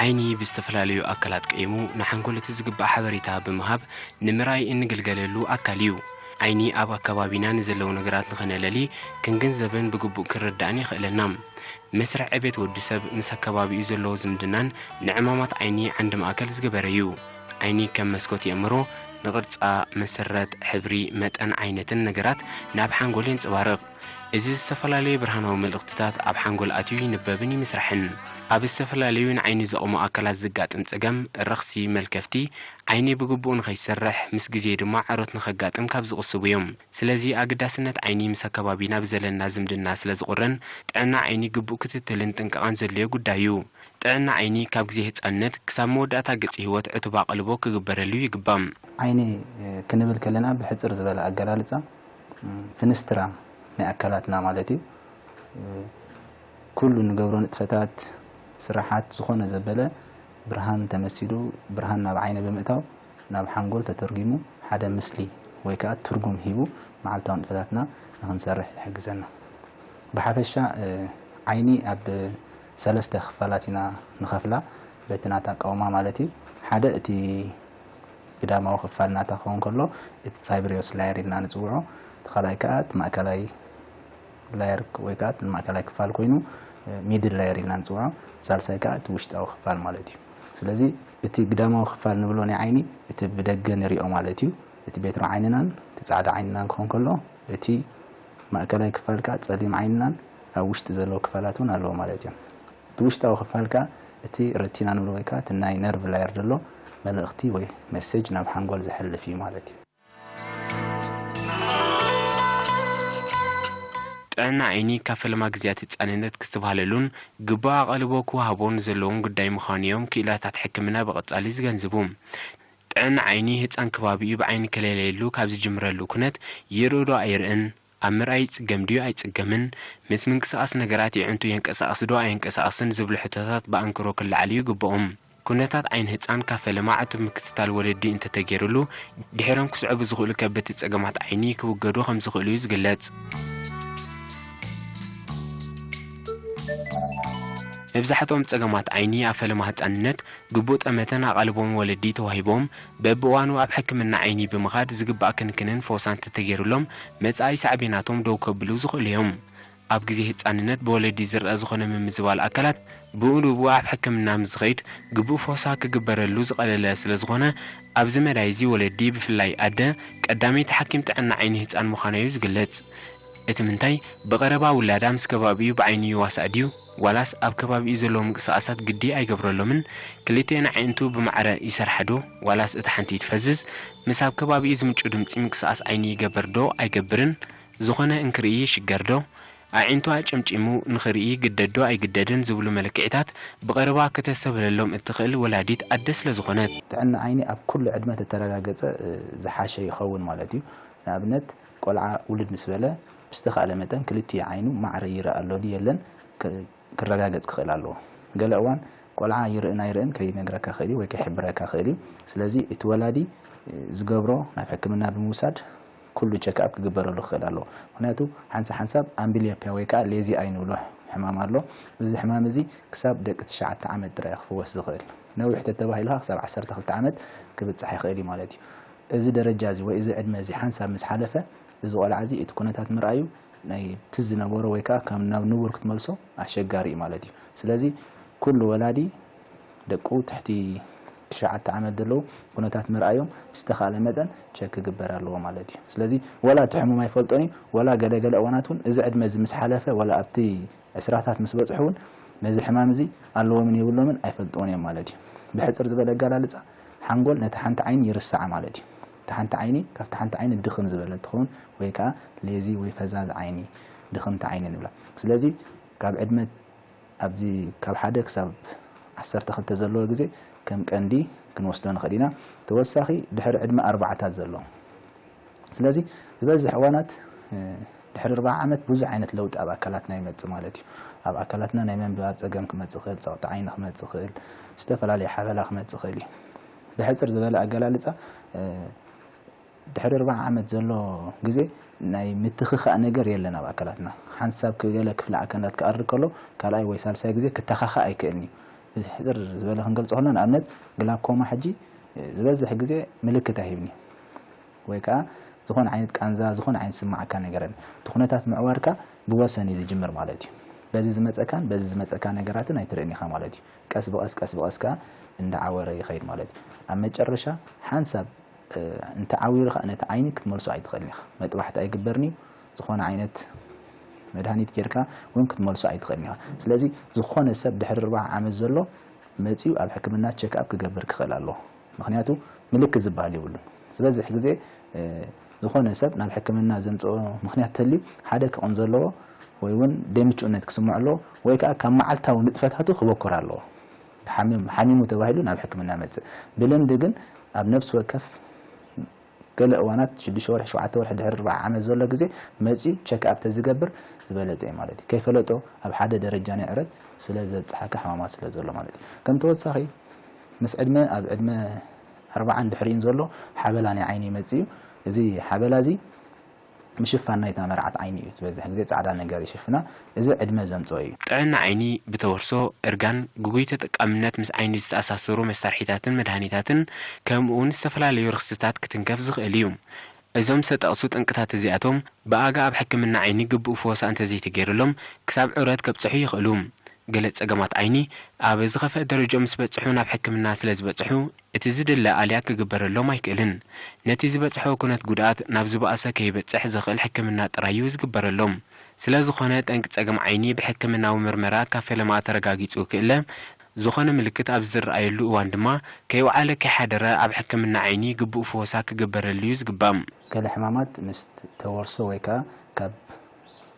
ዓይኒ ብዝተፈላለዩ ኣካላት ቀይሙ ንሓንጎል እቲ ዝግባእ ሓበሬታ ብምሃብ ንምርኣይ እንግልገለሉ ኣካል እዩ ዓይኒ ኣብ ኣከባቢና ንዘለዉ ነገራት ንኸነለሊ ክንግንዘብን ብግቡእ ክንርዳእን የኽእለና መስርሕ ዕቤት ወዲ ሰብ ምስ ኣከባቢኡ ዘለዎ ዝምድናን ንዕማማት ዓይኒ ዓንዲ ማእከል ዝገበረ እዩ ዓይኒ ከም መስኮት የእምሮ ንቕርጻ፣ መሰረት፣ ሕብሪ፣ መጠን፣ ዓይነትን ነገራት ናብ ሓንጎል የንጸባርቕ። እዚ ዝተፈላለየ ብርሃናዊ መልእኽትታት ኣብ ሓንጎል ኣትዩ ይንበብን ይምስራሕን። ኣብ ዝተፈላለዩ ንዓይኒ ዘቑሙ ኣካላት ዘጋጥም ጸገም፣ ረኽሲ፣ መልከፍቲ፣ ዓይኒ ብግቡእ ንኸይሰርሕ፣ ምስ ግዜ ድማ ዐሮት ንኸጋጥም ካብ ዝቕስቡ እዮም። ስለዚ ኣገዳስነት ዓይኒ ምስ ኣከባቢና ብዘለና ዝምድና ስለዝቑርን ጥዕና ዓይኒ ግቡእ ክትትልን ጥንቃቐን ዘድልዮ ጉዳይ እዩ። ጥዕና ዓይኒ ካብ ግዜ ህጻንነት ክሳብ መወዳእታ ገጽ ህይወት ዕቱብ ኣቓልቦ ክግበረሉ ይግባእ። ዓይኒ ክንብል ከለና ብሕጽር ዝበለ ኣገላልጻ ፍንስትራ ናይ ኣካላትና ማለት እዩ። ኩሉ ንገብሮ ንጥፈታት፣ ስራሓት፣ ዝኾነ ዘበለ ብርሃን ተመሲሉ ብርሃን ናብ ዓይኒ ብምእታው ናብ ሓንጎል ተተርጒሙ ሓደ ምስሊ ወይ ከኣ ትርጉም ሂቡ መዓልታዊ ንጥፈታትና ንኽንሰርሕ ይሕግዘና። ብሓፈሻ ዓይኒ ኣብ ሰለስተ ክፋላት ኢና ንኸፍላ በቲ ናታ ኣቃውማ ማለት እዩ። ሓደ እቲ ግዳማዊ ክፋል ናታ ክኸውን ከሎ እቲ ፋይብሪዮስ ላየር ኢልና ንጽውዖ። እቲ ካልኣይ ከኣ እቲ ማእከላይ ላየር ወይ ከኣ እቲ ማእከላይ ክፋል ኮይኑ ሚድል ላየር ኢልና ንጽውዖ። ሳልሳይ ከኣ እቲ ውሽጣዊ ክፋል ማለት እዩ። ስለዚ እቲ ግዳማዊ ክፋል ንብሎ ናይ ዓይኒ እቲ ብደገ ንሪኦ ማለት እዩ። እቲ ቤትሮ ዓይንናን እቲ ጻዕዳ ዓይንናን ክኸውን ከሎ እቲ ማእከላይ ክፋልካ ጸሊም ዓይንናን ኣብ ውሽጢ ዘለዉ ክፋላት ውን ኣለዎ ማለት እዩ። እቲ ውሽጣዊ ክፋል ከኣ እቲ ረቲና ንብሎ ወይ ከኣ እቲ ናይ ነርቭ ላየር ዘሎ መልእኽቲ ወይ መሴጅ ናብ ሓንጎል ዘሕልፍ እዩ ማለት እዩ። ጥዕና ዓይኒ ካብ ፈለማ ግዝያት ህጻንነት ክስትብሃለሉን ግቡእ ኣቓልቦ ክወሃቦን ዘለዎም ጉዳይ ምዃኑ እዮም ክኢላታት ሕክምና ብቐጻሊ ዝገንዝቡ። ጥዕና ዓይኒ ህጻን ክባቢኡ ብዓይኒ ክለለየሉ ካብ ዝጅምረሉ ኩነት ይርእዶ ኣይርእን፣ ኣብ ምርኣይ ይጽገም ድዩ ኣይጽገምን፣ ምስ ምንቅስቓስ ነገራት የዒንቱ የንቀሳቕስ ዶ ኣየንቀሳቕስን ዝብሉ ሕቶታት ብኣንክሮ ክለዓሉ ይግበኡም። ኩነታት ዓይኒ ህጻን ካብ ፈለማ ዕቱብ ምክትታል ወለዲ እንተተገይሩሉ ድሒሮም ክስዕቡ ዝኽእሉ ከበድቲ ጸገማት ዓይኒ ክውገዱ ከም ዝኽእሉ እዩ ዝግለጽ። መብዛሕትኦም ጸገማት ዓይኒ ኣብ ፈለማ ህጻንነት ግቡእ ጠመተን ኣቓልቦን ወለዲ ተዋሂቦም በብእዋኑ ኣብ ሕክምና ዓይኒ ብምኻድ ዝግባእ ክንክንን ፈውሳን ተተገይሩሎም መጻኢ ሳዕቤናቶም ደው ከብሉ ዝኽእሉ እዮም። ኣብ ግዜ ህጻንነት ብወለዲ ዝርኣ ዝኾነ ምምዝባል ኣካላት ብኡንብኡ ኣብ ሕክምና ምስ ዝኸይድ ግቡእ ፈውሳ ክግበረሉ ዝቐለለ ስለ ዝኾነ ኣብዚ መዳይ እዚ ወለዲ ብፍላይ ኣደ ቀዳመይቲ ሓኪም ጥዕና ዓይኒ ህጻን ምዃና'ዩ ዝግለጽ። እቲ ምንታይ ብቐረባ ውላዳ ምስ ከባቢኡ ብዓይኒ ይዋሳእ ድዩ? ዋላስ ኣብ ከባቢኡ ዘለዉ ምንቅስቓሳት ግዲ ኣይገብረሎምን? ክልቲኤን ኣዒንቱ ብማዕረ ይሰርሓዶ? ዋላስ እታ ሓንቲ ትፈዝዝ? ምስ ኣብ ከባቢኡ ዝምጩ ድምጺ ምንቅስቓስ ዓይኒ ይገበርዶ ኣይገብርን? ዝኾነ እንክርኢ ይሽገርዶ? ኣዒንቱ ኣጨምጪሙ ንኽርኢ ይግደድዶ ኣይግደድን? ዝብሉ መለክዒታት ብቐረባ ክተስተብህለሎም እትኽእል ወላዲት ኣደ ስለ ዝኾነት። ጥዕና ዓይኒ ኣብ ኩሉ ዕድመ ተተረጋገጸ ዝሓሸ ይኸውን ማለት እዩ። ንኣብነት። ቆልዓ ውልድ ምስ በለ ብዝተኻእለ መጠን ክልቲኡ ዓይኑ ማዕረ ይርእ ኣሎ ድዩ የለን ክረጋገጽ ክኽእል ኣለዎ። ገለ እዋን ቆልዓ ይርእን ኣይርእን ከይነግረካ ይኽእል እዩ ወይ ከይሕብረካ ይኽእል እዩ። ስለዚ እቲ ወላዲ ዝገብሮ ናብ ሕክምና ብምውሳድ ኩሉ ቸክኣፕ ክግበረሉ ክኽእል ኣለዎ። ምኽንያቱ ሓንሳ ሓንሳብ ኣምብልዮፒያ ወይ ከኣ ሌዚኣይ እንብሎ ሕማም ኣሎ። እዚ ሕማም እዚ ክሳብ ደቂ ትሽዓተ ዓመት ጥራይ እዩ ክፍወስ ዝኽእል። ነዊሕ ተተባሂሉ ከኣ ክሳብ ዓሰርተ ክልተ ዓመት ክብጻሕ ይኽእል እዩ ማለት እዩ። እዚ ደረጃ እዚ ወይ እዚ ዕድመ እዚ ሓንሳብ ምስ ሓለፈ እዚ ቆልዓ እዚ እቲ ኩነታት ምርኣዩ ናይ እቲ ዝነበሮ ወይ ከኣ ከም ናብ ንቡር ክትመልሶ ኣሸጋሪ እዩ ማለት እዩ። ስለዚ ኩሉ ወላዲ ደቁ ትሕቲ ትሽዓተ ዓመት ዘለዉ ኩነታት ምርኣዮም ብዝተኻእለ መጠን ቸክ ክግበር ኣለዎ ማለት እዩ። ስለዚ ወላ እቲ ሕሙም ኣይፈልጦን እዩ ወላ ገለ ገለ እዋናት እውን እዚ ዕድመ እዚ ምስ ሓለፈ ወላ ኣብቲ ዕስራታት ምስ በጽሑ እውን ነዚ ሕማም እዚ ኣለዎምን የብሎምን ኣይፈልጥዎን እዮም ማለት እዩ። ብሕጽር ዝበለ ኣገላልጻ ሓንጎል ነታ ሓንቲ ዓይኒ ይርስዓ ማለት እዩ። እታ ሓንቲ ዓይኒ ካብታ ሓንቲ ዓይኒ ድኽም ዝበለት ትኸውን ወይ ከኣ ሌዚ ወይ ፈዛዝ ዓይኒ፣ ድኽምቲ ዓይኒ ንብላ። ስለዚ ካብ ዕድመ ኣብዚ ካብ ሓደ ክሳብ ዓሰርተ ክልተ ዘለዎ ግዜ ከም ቀንዲ ክንወስዶ ንኽእል ኢና። ተወሳኺ ድሕሪ ዕድመ ኣርባዓታት ዘሎ። ስለዚ ዝበዝሕ እዋናት። ድሕሪ ኣርብዓ ዓመት ብዙሕ ዓይነት ለውጢ ኣብ ኣካላትና ይመጽእ ማለት እዩ። ኣብ ኣካላትና ናይ ምንብባብ ጸገም ክመጽእ ይኽእል፣ ጸቕጢ ዓይኒ ክመጽእ ይኽእል፣ ዝተፈላለየ ሓበላ ክመጽእ ይኽእል እዩ። ብሕጽር ዝበለ ኣገላልጻ ድሕሪ ኣርብዓ ዓመት ዘሎ ግዜ ናይ ምትኽኻእ ነገር የለን ኣብ ኣካላትና። ሓንሳብ ገለ ክፍሊ ኣካላት ክኣሪ ከሎ ካልኣይ ወይ ሳልሳይ ግዜ ክተኻኻእ ኣይክእልን እዩ። ብሕጽር ዝበለ ክንገልጾ ከሎና ንኣብነት ግላኮማ ሕጂ ዝበዝሕ ግዜ ምልክት ኣይህብን እዩ። ወይ ከኣ ዝኾነ ዓይነት ቃንዛ ዝኾነ ዓይነት ዝስመዓካ ነገር የለን። እቲ ኩነታት ምዕዋርካ ብወሰን እዩ ዝጅምር ማለት እዩ። በዚ ዝመጸካን በዚ ዝመጸካ ነገራትን ኣይትርእን ኢኻ ማለት እዩ። ቀስ ብቐስ ቀስ ብቐስ ከኣ እንዳዓወረ ይኸይድ ማለት እዩ። ኣብ መጨረሻ ሓንሳብ እንተዓዊሩ ከኣ ነቲ ዓይኒ ክትመልሶ ኣይትኽእልን ኢኻ። መጥባሕቲ ኣይግበርን እዩ። ዝኾነ ዓይነት መድሃኒት ጌርካ ውን ክትመልሶ ኣይትኽእልን ኢኻ። ስለዚ ዝኾነ ሰብ ድሕሪ ኣርብዓ ዓመት ዘሎ መጺኡ ኣብ ሕክምና ቸክኣፕ ክገብር ክኽእል ኣለዎ። ምኽንያቱ ምልክት ዝብሃል የብሉን። ዝበዝሕ ግዜ ዝኾነ ሰብ ናብ ሕክምና ዘምጽኦ ምኽንያት ተልዩ ሓደ ክቕንዞ ኣለዎ ወይ ውን ደይምቹእነት ክስምዖ ኣለዎ ወይ ከኣ ካብ መዓልታዊ ንጥፈታቱ ክበኩር ኣለዎ። ሓሚሙ ተባሂሉ ናብ ሕክምና ይመጽእ። ብልምዲ ግን ኣብ ነብሲ ወከፍ ገለ እዋናት ሽዱሽተ ወርሒ ሸውዓተ ወርሒ ድሕሪ ኣርብዓ ዓመት ዘሎ ግዜ መጺኡ ቸክ ኣፕ ተዝገብር ዝበለጸ እዩ ማለት እዩ ከይፈለጦ ኣብ ሓደ ደረጃ ናይ ዕረት ስለ ዘብጽሓካ ሕማማት ስለ ዘሎ ማለት እዩ ከም ተወሳኺ ምስ ዕድመ ኣብ ዕድመ ኣርብዓን ድሕሪኡን ዘሎ ሓበላ ናይ ዓይኒ ይመጽእ እዩ እዚ ሓበላ እዚ ምሽፋን ናይታ መርዓት ዓይኒ እዩ ዝበዝሕ ግዜ ጻዕዳ ነገር ይሽፍና እዚ ዕድመ ዘምጽኦ እዩ። ጥዕና ዓይኒ ብተወርሶ፣ እርጋን፣ ግጉይ ተጠቃምነት ምስ ዓይኒ ዝተኣሳሰሩ መሳርሒታትን መድሃኒታትን ከምኡውን ዝተፈላለዩ ረኽሲታት ክትንከፍ ዝኽእል እዩ። እዞም ዝተጠቕሱ ጠንቅታት እዚኣቶም ብኣጋ ኣብ ሕክምና ዓይኒ ግቡእ ፍወሳ እንተዘይተገይርሎም ክሳብ ዑረት ከብጽሑ ይኽእሉ። ገለ ጸገማት ዓይኒ ኣብ ዝኸፍአ ደረጅኦም ምስ በጽሑ ናብ ሕክምና ስለዝበጽሑ እቲ ዝድለ ኣልያ ክግበረሎም ኣይክእልን። ነቲ ዝበጽሖ ኩነት ጉድኣት ናብ ዝበኣሰ ከይበጽሕ ዘኽእል ሕክምና ጥራይ እዩ ዝግበረሎም። ስለ ዝኾነ ጠንቂ ጸገም ዓይኒ ብሕክምናዊ ምርመራ ካብ ፈለማ ተረጋጊጹ ክእለ፣ ዝኾነ ምልክት ኣብ ዝርኣየሉ እዋን ድማ ከይውዓለ ከይሓደረ ኣብ ሕክምና ዓይኒ ግቡእ ፍወሳ ክግበረሉ'ዩ ዝግባእ። ገለ ሕማማት ምስ ተወርሶ ወይ ከኣ ካብ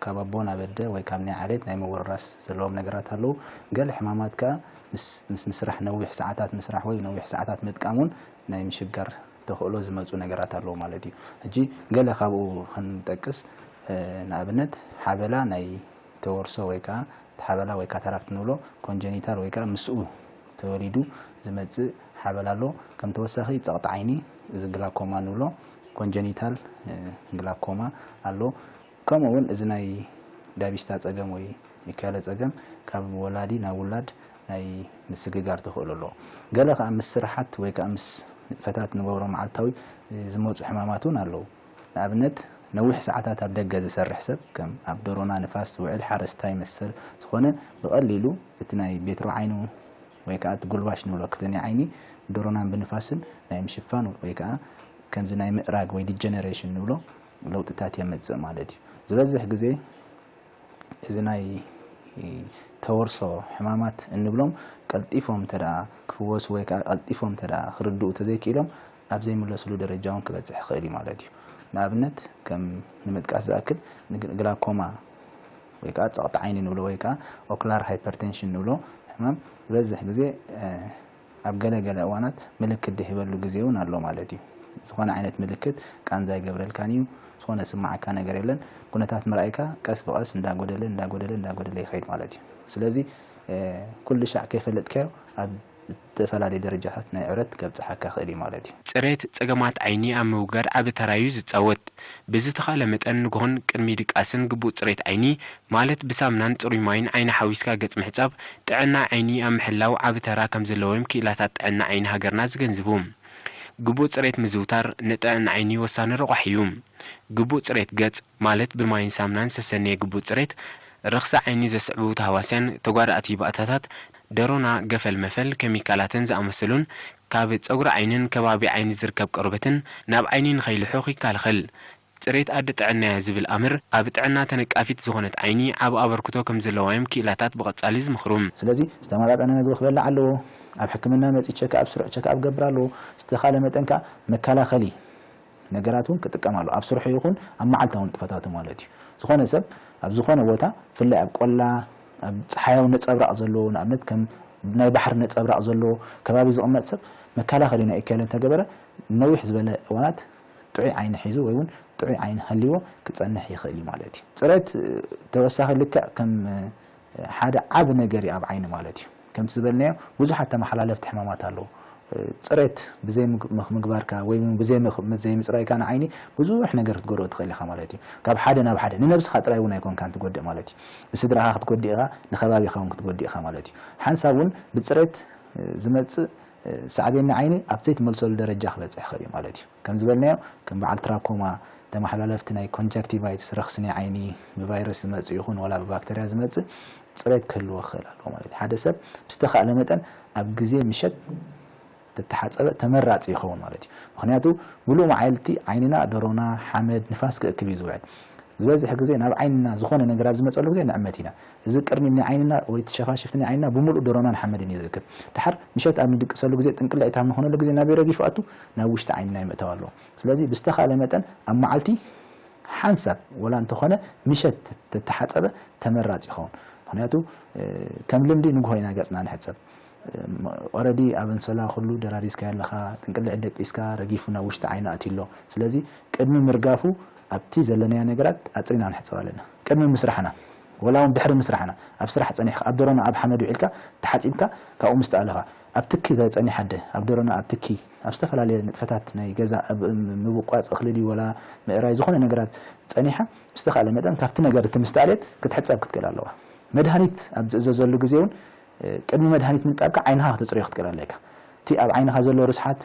ካብ ኣቦ ናብ ኣደ ወይ ካብ ናይ ዓሌት ናይ ምውርራስ ዘለዎም ነገራት ኣለዉ። ገለ ሕማማት ከኣ ምስ ምስ ምስራሕ ነዊሕ ሰዓታት ምስራሕ ወይ ነዊሕ ሰዓታት ምጥቃም ውን ናይ ምሽጋር ተኽእሎ ዝመጹ ነገራት ኣለዉ ማለት እዩ። ሕጂ ገለ ካብኡ ክንጠቅስ ንኣብነት ሓበላ ናይ ተወርሶ ወይ ከኣ ሓበላ ወይ ካታራክት ንብሎ ኮንጀኒታል ወይ ከኣ ምስኡ ተወሊዱ ዝመጽእ ሓበል ኣሎ። ከም ተወሳኺ ጸቕጢ ዓይኒ እዚ ግላኮማ ንብሎ፣ ኮንጀኒታል ግላኮማ፣ ኣሎ። ከምኡ እውን እዚ ናይ ዳቪስታ ጸገም ወይ ኢካለ ጸገም ካብ ወላዲ ናብ ውላድ ናይ ምስግጋር ተኽእሎ ኣሎ። ገለ ከኣ ምስ ስርሓት ወይ ከኣ ምስ ንጥፈታት ንገብሮ መዓልታዊ ዝመጹ ሕማማት እውን ኣለዉ። ንኣብነት ነዊሕ ሰዓታት ኣብ ደገ ዝሰርሕ ሰብ ከም ኣብ ደሮና ንፋስ ዝውዕል ሓረስታይ መሰል ዝኾነ ብቐሊሉ እቲ ናይ ቤትሮ ዓይኑ ወይ ከኣ እቲ ጉልባሽ ንብሎ ክፍሊ ናይ ዓይኒ ብደሮናን ብንፋስን ናይ ምሽፋን ወይ ከኣ ከምዚ ናይ ምእራግ ወይ ዲጀነሬሽን ንብሎ ለውጥታት የመጽእ ማለት እዩ። ዝበዝሕ ግዜ እዚ ናይ ተወርሶ ሕማማት እንብሎም ቀልጢፎም እንተደኣ ክፍወሱ ወይ ከኣ ቀልጢፎም እንተደኣ ክርድኡ ተዘይክኢሎም ናብ ዘይምለስሉ ደረጃ እውን ክበጽሕ ይኽእል እዩ ማለት እዩ። ንኣብነት ከም ንምጥቃስ ዝኣክል ንግላኮማ ወይ ከኣ ጸቕጢ ዓይኒ ንብሎ ወይ ከኣ ኦክላር ሃይፐርቴንሽን ንብሎ ሕማም ዝበዝሕ ግዜ ኣብ ገለ ገለ እዋናት ምልክት ድህበሉ ግዜ እውን ኣሎ ማለት እዩ። ዝኾነ ዓይነት ምልክት ቃንዛ ኣይገብረልካን እዩ፣ ዝኾነ ዝስመዓካ ነገር የለን፣ ኩነታት ምርኣይካ ቀስ ብቐስ እንዳጎደለ እንዳጎደለ እንዳጎደለ ይኸይድ ማለት እዩ። ስለዚ ኩልሻዕ ከይፈለጥካዮ ኣብ። ዝተፈላለዩ ደረጃታት ናይ ዕረት ከብጽሓካ ይኽእል እዩ ማለት እዩ። ጽሬት ጸገማት ዓይኒ ኣብ ምውጋድ ዓቢ ተራ'ዩ ዝጻወት። ብዝተኻእለ መጠን ንግሆን ቅድሚ ድቃስን ግቡእ ጽሬት ዓይኒ፣ ማለት ብሳምናን ጽሩይ ማይን ዓይኒ ሓዊስካ ገጽ ምሕጻብ፣ ጥዕና ዓይኒ ኣብ ምሕላው ዓቢ ተራ ከምዘለዎ'ዮም ክኢላታት ጥዕና ዓይኒ ሃገርና ዝገንዝቡ። ግቡእ ጽሬት ምዝውታር ንጥዕና ዓይኒ ወሳኒ ረቋሒ'ዩ። ግቡእ ጽሬት ገጽ፣ ማለት ብማይን ሳምናን ዝተሰነየ ግቡእ ጽሬት፣ ርኽሲ ዓይኒ ዘስዕቡ ታህዋስያን ተጓዳእቲ ባእታታት ደሮና ገፈል መፈል ከሚካላትን ዝኣመሰሉን ካብ ጸጉሪ ዓይኒን ከባቢ ዓይኒ ዝርከብ ቆርበትን ናብ ዓይኒ ንኸይልሑኽ ይካልኸል። ጽሬት ኣደ ጥዕና'ያ ዝብል ኣምር ኣብ ጥዕና ተነቃፊት ዝኾነት ዓይኒ ዓቢ ኣበርክቶ ከም ዘለዋ'ዮም ክኢላታት ብቐጻሊ ዝምኽሩ። ስለዚ ዝተመጣጠነ መግቢ ክበልዕ ኣለዎ። ኣብ ሕክምና መጺኡ ቸክኣፕ ስሩዕ ቸክኣፕ ክገብር ኣለዎ። ዝተኻለ መጠን ከኣ መከላኸሊ ነገራት እውን ክጥቀም ኣለዎ፣ ኣብ ስርሑ ይኹን ኣብ መዓልታዊ ንጥፈታቱ ማለት እዩ። ዝኾነ ሰብ ኣብ ዝኾነ ቦታ ብፍላይ ኣብ ቆላ ኣብ ጸሓያዊ ነጸብራቕ ዘለዎ ንኣብነት ከም ናይ ባሕሪ ነጸብራቕ ዘለዎ ከባቢ ዝቕመጥ ሰብ መከላኸሊ ናይ እከለ እንተገበረ ንነዊሕ ዝበለ እዋናት ጥዑይ ዓይኒ ሒዙ ወይ እውን ጥዑይ ዓይኒ ሃልይዎ ክጸንሕ ይኽእል እዩ ማለት እዩ። ጽሬት ተወሳኺ ልክዕ ከም ሓደ ዓቢ ነገር እዩ ኣብ ዓይኒ ማለት እዩ። ከምቲ ዝበልናዮ ብዙሓት ተመሓላለፍቲ ሕማማት ኣለዉ። ጽሬት ብዘይ ምግባርካ ወይ ውን ብዘይ ዘይምጽራይካ ንዓይኒ ብዙሕ ነገር ክትጎድኦ ትኽእል ኢኻ ማለት እዩ። ካብ ሓደ ናብ ሓደ ንነብስኻ ጥራይ ውን ኣይኮንካን ትጎድእ ማለት እዩ። ንስድራኻ ክትጎድእ ኢኻ ንከባቢኻ ውን ክትጎድእ ኢኻ ማለት እዩ። ሓንሳብ ውን ብጽሬት ዝመጽእ ሳዕቤን ንዓይኒ ኣብ ዘይትመልሰሉ ደረጃ ክበጽሕ ይኽእል እዩ ማለት እዩ። ከም ዝበልናዮ፣ ከም በዓል ትራኮማ፣ ተመሓላለፍቲ ናይ ኮንጃክቲቫይትስ፣ ረኽሲ ናይ ዓይኒ፣ ብቫይረስ ዝመጽእ ይኹን ዋላ ብባክተርያ ዝመጽእ ጽሬት ክህልዎ ክኽእል ኣለዎ ማለት እዩ። ሓደ ሰብ ብዝተኻእለ መጠን ኣብ ግዜ ምሸት እንተተሓጸበ ተመራጺ ይኸውን ማለት እዩ። ምኽንያቱ ምሉእ መዓልቲ ዓይንና፣ ደሮና፣ ሓመድ፣ ንፋስ ክእክብ እዩ ዝውዕል። ዝበዝሕ ግዜ ናብ ዓይንና ዝኾነ ነገር ኣብ ዝመጸሉ ግዜ ንዕመት ኢና። እዚ ቅርኒብ ናይ ዓይንና ወይ እቲ ሸፋሽፍቲ ናይ ዓይንና ብምሉኡ ድሮናን ሓመድን እዩ ዝእክብ። ደሓር ምሸት ኣብ ንድቅሰሉ ግዜ ጥንቅልዒት ኣብ ንኾነሉ ግዜ ናበይ ረጊፉ ኣቱ? ናብ ውሽጢ ዓይንና ይምእታው ኣለዎ። ስለዚ ብዝተኻእለ መጠን ኣብ መዓልቲ ሓንሳብ ወላ እንተኾነ ምሸት ተተሓጸበ ተመራጺ ይኸውን። ምኽንያቱ ከም ልምዲ ንግሆ ኢና ገጽና ንሕጸብ። ኦረዲ ኣብ ኣንሶላ ኩሉ ደራሪዝካዮ ኣለኻ፣ ጥንቅልዒት ደቂስካ ረጊፉ ናብ ውሽጢ ዓይኒ ኣትዩ ኣሎ። ስለዚ ቅድሚ ምርጋፉ ኣብቲ ዘለናዮ ነገራት ኣጽሪና ክንሕጸብ ኣለና። ቅድሚ ምስራሕና ወላውን ድሕሪ ምስራሕና ኣብ ስራሕ ጸኒሕካ ኣብ ደሮና ኣብ ሓመድ ውዒልካ ተሓጺብካ ካብኡ ምስ ተኣለኻ ኣብ ትኪ ጸኒሕ ኣደ ኣብ ደሮና ኣብ ትኪ ኣብ ዝተፈላለየ ንጥፈታት ናይ ገዛ ኣብ ምብቋጽ እኽሊ ድዩ ወላ ምእራይ ዝኾነ ነገራት ጸኒሓ ብዝተኻእለ መጠን ካብቲ ነገር እቲ ምስ ተኣልየት ክትሕጸብ ክትክእል ኣለዋ መድሃኒት ኣብ ዝእዘዘሉ ግዜ ውን ቅድሚ መድሃኒት ምንጣብካ ዓይንኻ ከተጽርዮ ክትክእል ኣለካ እቲ ኣብ ዓይንኻ ዘሎ ርስሓት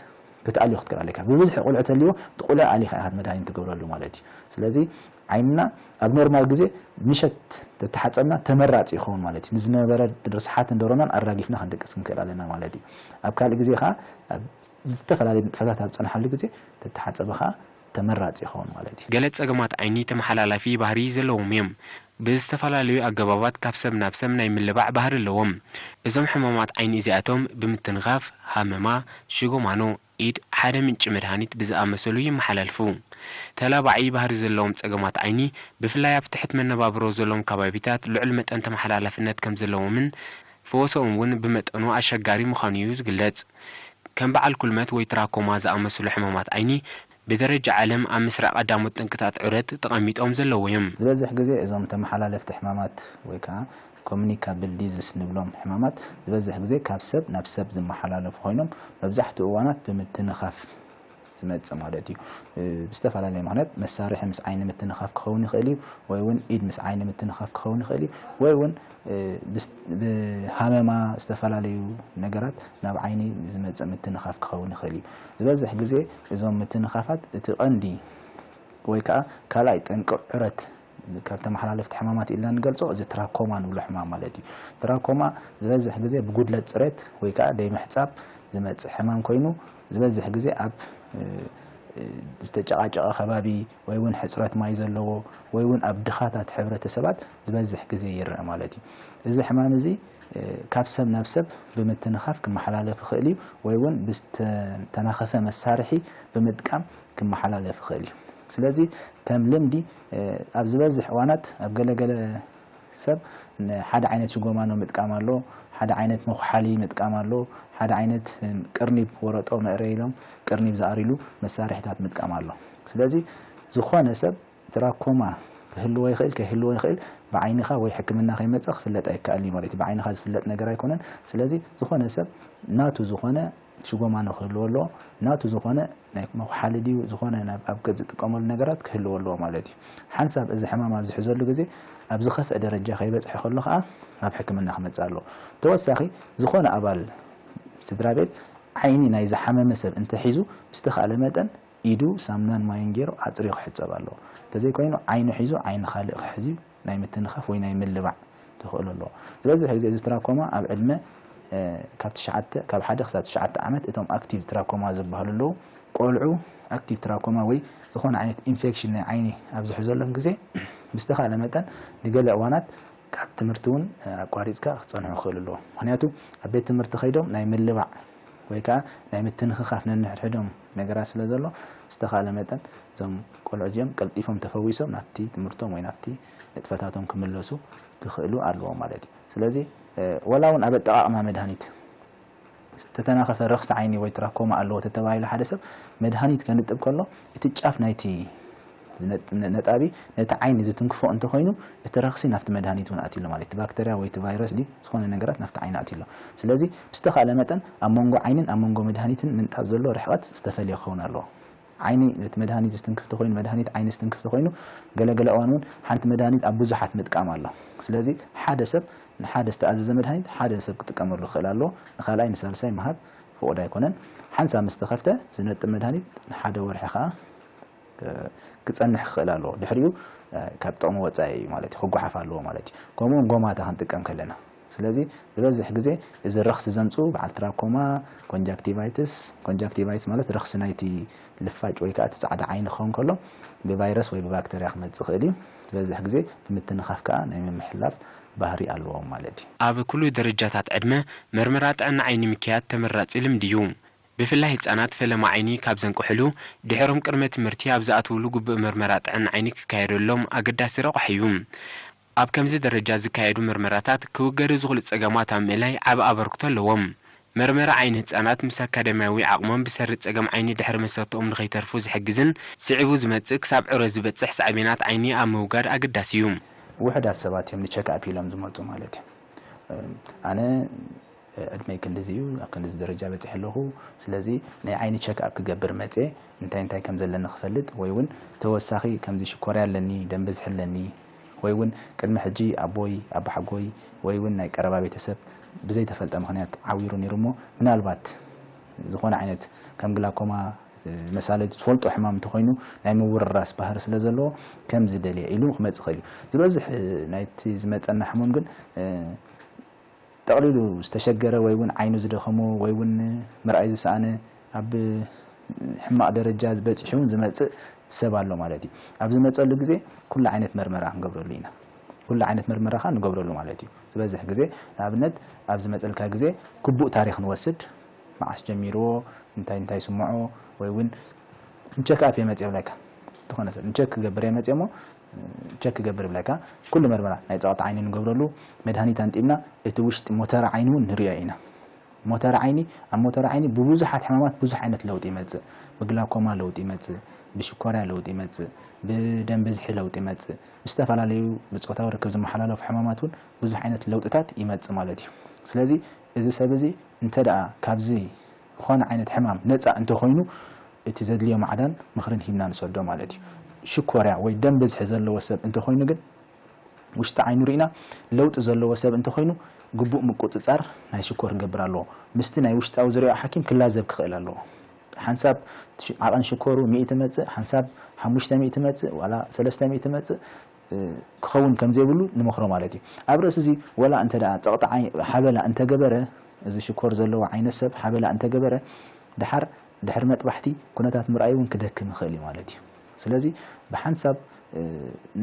ክትኣልዮ ክትክእል ኣለካ ብብዝሒ ቁልዒ ተልዎ እቲ ቁልዒ ኣሊኻ ኢኻ መድሃኒት ትገብረሉ ማለት እዩ ስለዚ ዓይንና ኣብ ኖርማል ግዜ ምሸት ተተሓጸብና ተመራጺ ይኸውን ማለት እዩ። ንዝነበረ ርስሓትን ደሮናን ኣራጊፍና ክንድቅስ ክንክእል ኣለና ማለት እዩ። ኣብ ካልእ ግዜ ከኣ ኣብ ዝተፈላለየ ንጥፈታት ኣብ ዝጸንሓሉ ግዜ ተተሓጸበ ከኣ ተመራጺ ይኸውን ማለት እዩ። ገለ ጸገማት ዓይኒ ተመሓላላፊ ባህሪ ዘለዎም እዮም። ብዝተፈላለዩ ኣገባባት ካብ ሰብ ናብ ሰብ ናይ ምልባዕ ባህሪ ኣለዎም። እዞም ሕማማት ዓይኒ እዚኣቶም ብምትንኻፍ፣ ሃመማ፣ ሽጎማኖ፣ ኢድ ሓደ ምንጪ መድሃኒት ብዝኣመሰሉ ይመሓላልፉ። ተላባዒ ባህሪ ዘለዎም ጸገማት ዓይኒ፣ ብፍላይ ኣብ ትሕት መነባብሮ ዘሎም ከባቢታት ልዑል መጠን ተመሓላላፍነት ከም ዘለዎምን ፈወሰኡም እውን ብመጠኑ ኣሸጋሪ ምዃኑ እዩ ዝግለጽ። ከም በዓል ኩልመት ወይ ትራኮማ ዝኣመሰሉ ሕማማት ዓይኒ ብደረጃ ዓለም ኣብ መስርዕ ቀዳሞት ጠንቅታት ዑረት ተቐሚጦም ዘለዉ እዮም። ዝበዝሕ ግዜ እዞም ተመሓላለፍቲ ሕማማት ወይ ከኣ ኮሙኒካብል ዲዝስ ንብሎም ሕማማት ዝበዝሕ ግዜ ካብ ሰብ ናብ ሰብ ዝመሓላለፉ ኮይኖም መብዛሕትኡ እዋናት ብምትንኻፍ ዝመጽእ ማለት እዩ። ብዝተፈላለየ ምኽንያት መሳርሒ ምስ ዓይኒ ምትንኻፍ ክኸውን ይኽእል እዩ ወይ እውን ኢድ ምስ ዓይኒ ምትንኻፍ ክኸውን ይኽእል እዩ ወይ እውን ብሃመማ ዝተፈላለዩ ነገራት ናብ ዓይኒ ዝመጽእ ምትንኻፍ ክኸውን ይኽእል እዩ። ዝበዝሕ ግዜ እዞም ምትንኻፋት እቲ ቀንዲ ወይ ከኣ ካልኣይ ጠንቂ ዑረት ካብ ተመሓላለፍቲ ሕማማት ኢልና እንገልጾ እዚ ትራኮማ ንብሎ ሕማም ማለት እዩ። ትራኮማ ዝበዝሕ ግዜ ብጉድለት ጽሬት ወይ ከኣ ደይምሕጻብ ዝመጽእ ሕማም ኮይኑ ዝበዝሕ ግዜ ኣብ ዝተጨቓጨቐ ከባቢ ወይ ውን ሕጽረት ማይ ዘለዎ ወይ ውን ኣብ ድኻታት ሕብረተሰባት ዝበዝሕ ግዜ ይረኣ ማለት እዩ። እዚ ሕማም እዚ ካብ ሰብ ናብ ሰብ ብምትንኻፍ ክመሓላለፍ ይኽእል እዩ ወይ ውን ብዝተናኸፈ መሳርሒ ብምጥቃም ክመሓላለፍ ይኽእል እዩ። ስለዚ ከም ልምዲ ኣብ ዝበዝሕ እዋናት ኣብ ገለ ገለ ሰብ ሓደ ዓይነት ሽጎማኖ ምጥቃም ኣሎ፣ ሓደ ዓይነት መኹሓሊ ምጥቃም ኣሎ፣ ሓደ ዓይነት ቅርኒብ ወረጦ መእረይ ኢሎም ቅርኒብ ዝኣርይሉ መሳርሒታት ምጥቃም ኣሎ። ስለዚ ዝኾነ ሰብ ትራኮማ ክህልዎ ይኽእል ከይህልዎ ይኽእል ብዓይንኻ ወይ ሕክምና ከይመጸ ክፍለጥ ኣይከኣልን እዩ ማለት እዩ። ብዓይንኻ ዝፍለጥ ነገር ኣይኮነን። ስለዚ ዝኾነ ሰብ ናቱ ዝኾነ ስጎማ ንክህልዎ ኣለዎ ናቱ ዝኮነ ናይ መኩሓሊ ድዩ ዝኮነ ናብ ኣብ ገጽ ዝጥቀመሉ ነገራት ክህልዎ ኣለዎ ማለት እዩ። ሓንሳብ እዚ ሕማም ኣብ ዝሕዘሉ ግዜ ኣብ ዝከፍኣ ደረጃ ከይበጽሐ ከሎ ከኣ ናብ ሕክምና ክመጽእ ኣለዎ። ተወሳኪ ዝኮነ ኣባል ስድራ ቤት ዓይኒ ናይ ዝሓመመ ሰብ እንተ ሒዙ ብዝተካእለ መጠን ኢዱ ሳምናን ማይን ጌሩ ኣጽርዩ ክሕጸብ ኣለዎ። እንተዘይ ኮይኑ ዓይኑ ሒዙ ዓይኒ ካልእ ክሕዝ እዩ። ናይ ምትንኻፍ ወይ ናይ ምልባዕ ተኽእሎ ኣለዎ። ዝበዝሕ ግዜ እዚ ትራኮማ ኣብ ዕድመ ካብ ትሽዓተ ካብ ሓደ ክሳብ ትሽዓተ ዓመት እቶም ኣክቲቭ ትራኮማ ዝበሃሉ ኣለዉ። ቆልዑ ኣክቲቭ ትራኮማ ወይ ዝኾነ ዓይነት ኢንፌክሽን ናይ ዓይኒ ኣብ ዝሕዘሎም ግዜ ብዝተኻእለ መጠን ንገለ እዋናት ካብ ትምህርቲ እውን ኣቋሪጽካ ክጸንሑ ይኽእሉ ኣለዉ። ምኽንያቱ ኣብ ቤት ትምህርቲ ከይዶም ናይ ምልባዕ ወይ ከኣ ናይ ምትንኽኻፍ ነንሕድሕዶም ነገራት ስለ ዘሎ ብዝተኻእለ መጠን እዞም ቆልዑ እዚኦም ቀልጢፎም ተፈዊሶም ናብቲ ትምህርቶም ወይ ናብቲ ንጥፈታቶም ክምለሱ ክኽእሉ ኣለዎም ማለት እዩ። ስለዚ ወላ እውን ኣብ ኣጠቓቕማ መድሃኒት ዝተተናኸፈ ረኽሲ ዓይኒ ወይ ትራኮማ ኣለዎ ተተባሂሉ ሓደ ሰብ መድሃኒት ከንጥብ ከሎ እቲ ጫፍ ናይቲ እዚ ነጣቢ ነቲ ዓይኒ ዝትንክፎ እንተ ኾይኑ እቲ ረኽሲ ናብቲ መድሃኒት እውን ኣትዩ ኣሎ ማለት እዩ። እቲ ባክተርያ ወይ እቲ ቫይረስ ድዩ ዝኾነ ነገራት ናብቲ ዓይኒ ኣትዩ ኣሎ። ስለዚ ብዝተኻእለ መጠን ኣብ መንጎ ዓይንን ኣብ መንጎ መድሃኒትን ምንጣብ ዘሎ ርሕቐት ዝተፈልየ ክኸውን ኣለዎ። ዓይኒ ነቲ መድሃኒት ዝትንክፍ እንተ ኾይኑ መድሃኒት ዓይኒ ዝትንክፍ እንተ ኾይኑ ገለ ገለ እዋን እውን ሓንቲ መድሃኒት ኣብ ብዙሓት ምጥቃም ኣሎ። ስለዚ ሓደ ሰብ ንሓደ ዝተኣዘዘ መድሃኒት ሓደ ሰብ ክጥቀመሉ ክኽእል ኣለዎ። ንካልኣይ ንሳልሳይ ምሃብ ፍቑድ ኣይኮነን። ሓንሳብ ምስ ተኸፍተ ዝነጥብ መድሃኒት ንሓደ ወርሒ ከኣ ክጸንሕ ክኽእል ኣለዎ። ድሕሪኡ ካብ ጥቕሚ ወጻኢ እዩ ማለት እዩ፣ ክጓሓፍ ኣለዎ ማለት እዩ። ከምኡውን ጎማታ ክንጥቀም ከለና። ስለዚ ዝበዝሕ ግዜ እዚ ረኽሲ ዘምጽኡ በዓል ትራኮማ፣ ኮንጃክቲቫይትስ፣ ኮንጃክቲቫይትስ ማለት ረኽሲ ናይቲ ልፋጭ ወይ ከኣ እቲ ጻዕዳ ዓይኒ ክኸውን ከሎ ብቫይረስ ወይ ብባክተርያ ክመጽእ ይኽእል እዩ። ዝበዝሕ ግዜ ብምትንኻፍ ከኣ ናይ ምምሕላፍ ባህሪ ኣለዎም ማለት እዩ። ኣብ ኩሉ ደረጃታት ዕድመ መርመራ ጥዕና ዓይኒ ምክያድ ተመራጺ ልምዲ እዩ። ብፍላይ ህጻናት ፈለማ ዓይኒ ካብ ዘንቅሑሉ ድሕሮም ቅድመ ትምህርቲ ኣብ ዝኣትዉሉ ግቡእ ምርመራ ጥዕና ዓይኒ ክካየደሎም ኣገዳሲ ረቋሒ እዩ። ኣብ ከምዚ ደረጃ ዝካየዱ ምርመራታት ክውገዱ ዝኽሉ ጸገማት ኣብ ምእላይ ዓቢ ኣበርክቶ ኣለዎም። መርመራ ዓይኒ ህጻናት ምስ ኣካዳሚያዊ ዓቕሞም ብሰሪ ጸገም ዓይኒ ድሕሪ መሰተኦም ንኸይተርፉ ዝሕግዝን ስዒቡ ዝመጽእ ክሳብ ዕረ ዝበጽሕ ሳዕቤናት ዓይኒ ኣብ ምውጋድ ኣገዳሲ እዩ። ውሑዳት ሰባት እዮም ንቸክኣፕ ኢሎም ዝመጹ ማለት እዩ። ኣነ ዕድመይ ክንድዚ እዩ ኣብ ክንድዚ ደረጃ በጺሐ ኣለኹ ስለዚ ናይ ዓይኒ ቸክ ኣፕ ክገብር መጼ እንታይ እንታይ ከም ዘለኒ ክፈልጥ ወይ ውን ተወሳኺ ከምዚ ሽኮርያ ኣለኒ ደም ብዝሒ ኣለኒ ወይ ውን ቅድሚ ሕጂ ኣቦይ ኣባሓጎይ ወይ ውን ናይ ቀረባ ቤተሰብ ብዘይ ተፈልጠ ምኽንያት ዓዊሩ ኔሩ እሞ ምናልባት ዝኾነ ዓይነት ከም ግላኮማ መሳሊ ዝፈልጦ ሕማም እንተኾይኑ ናይ ምውርራስ ባህሪ ስለ ዘለዎ ከምዚ ደልየ ኢሉ ክመጽእ ይኽእል እዩ ዝበዝሕ ናይቲ ዝመጸና ሕሙም ግን ጠቕሊሉ ዝተሸገረ ወይ ውን ዓይኑ ዝደኸሞ ወይ ውን ምርኣይ ዝሰኣነ ኣብ ሕማቕ ደረጃ በጺሑ ውን ዝመጽእ ሰብ ኣሎ ማለት እዩ። ኣብ ዝመጸሉ ግዜ ኩሉ ዓይነት መርመራ ክንገብረሉ ኢና። ኩሉ ዓይነት መርመራ ከኣ ንገብረሉ ማለት እዩ። ዝበዝሕ ግዜ ንኣብነት ኣብ ዝመጸልካ ግዜ ግቡእ ታሪኽ ንወስድ፣ መዓስ ጀሚርዎ፣ እንታይ እንታይ ይስምዖ ወይ ውን ንቸክ ኣፕ እየ መጽየ እብለካ። ዝኾነ ሰብ ንቸክ ክገብር እየ መጽየ እሞ ቸክ ክገብር ይብለካ ኩሉ መርመራ ናይ ጸቅጢ ዓይኒ ንገብረሉ መድሃኒት ኣንጢብና እቲ ውሽጢ ሞተረ ዓይኒ ውን ንሪኦ ኢና ሞተረ ዓይኒ ኣብ ሞተረ ዓይኒ ብቡዙሓት ሕማማት ቡዙሕ ዓይነት ለውጢ ይመጽእ ብግላኮማ ለውጢ ይመጽእ ብሽኮርያ ለውጢ ይመጽእ ብደም ብዝሒ ለውጢ ይመጽእ ምስ ዝተፈላለዩ ብጾታዊ ርክብ ዝመሓላለፉ ሕማማት ውን ቡዙሕ ዓይነት ለውጥታት ይመጽእ ማለት እዩ ስለዚ እዚ ሰብ እዚ እንተ ካብዚ ዝኾነ ዓይነት ሕማም ነጻ እንተኾይኑ እቲ ዘድልዮ ማዕዳን ምኽርን ሂብና ንሰዶ ማለት እዩ። ሽኮርያ ወይ ደም ብዝሒ ዘለዎ ሰብ እንተኾይኑ ግን ውሽጢ ዓይኑ ሪእና ለውጢ ዘለዎ ሰብ እንተኾይኑ ግቡእ ምቁጽጻር ናይ ሽኮር ክገብር ኣለዎ። ምስቲ ናይ ውሽጣዊ ዝርያኡ ሓኪም ክላዘብ ክኽእል ኣለዎ። ሓንሳብ ዓቐን ሽኮሩ ሚእቲ መጽእ፣ ሓንሳብ ሓሙሽተ ሚእቲ መጽእ ዋላ ሰለስተ ሚእቲ መጽእ ክኸውን ከም ዘይብሉ ንመኽሮ ማለት እዩ። ኣብ ርእሲዚ ወላ እንተ ጸቕጢ ሓበላ እንተ ገበረ፣ እዚ ሽኮር ዘለዎ ዓይነት ሰብ ሓበላ እንተ ገበረ፣ ደሓር ድሕሪ መጥባሕቲ ኩነታት ምርኣይ እውን ክደክም ይኽእል እዩ ማለት እዩ። ስለዚ ብሓንሳብ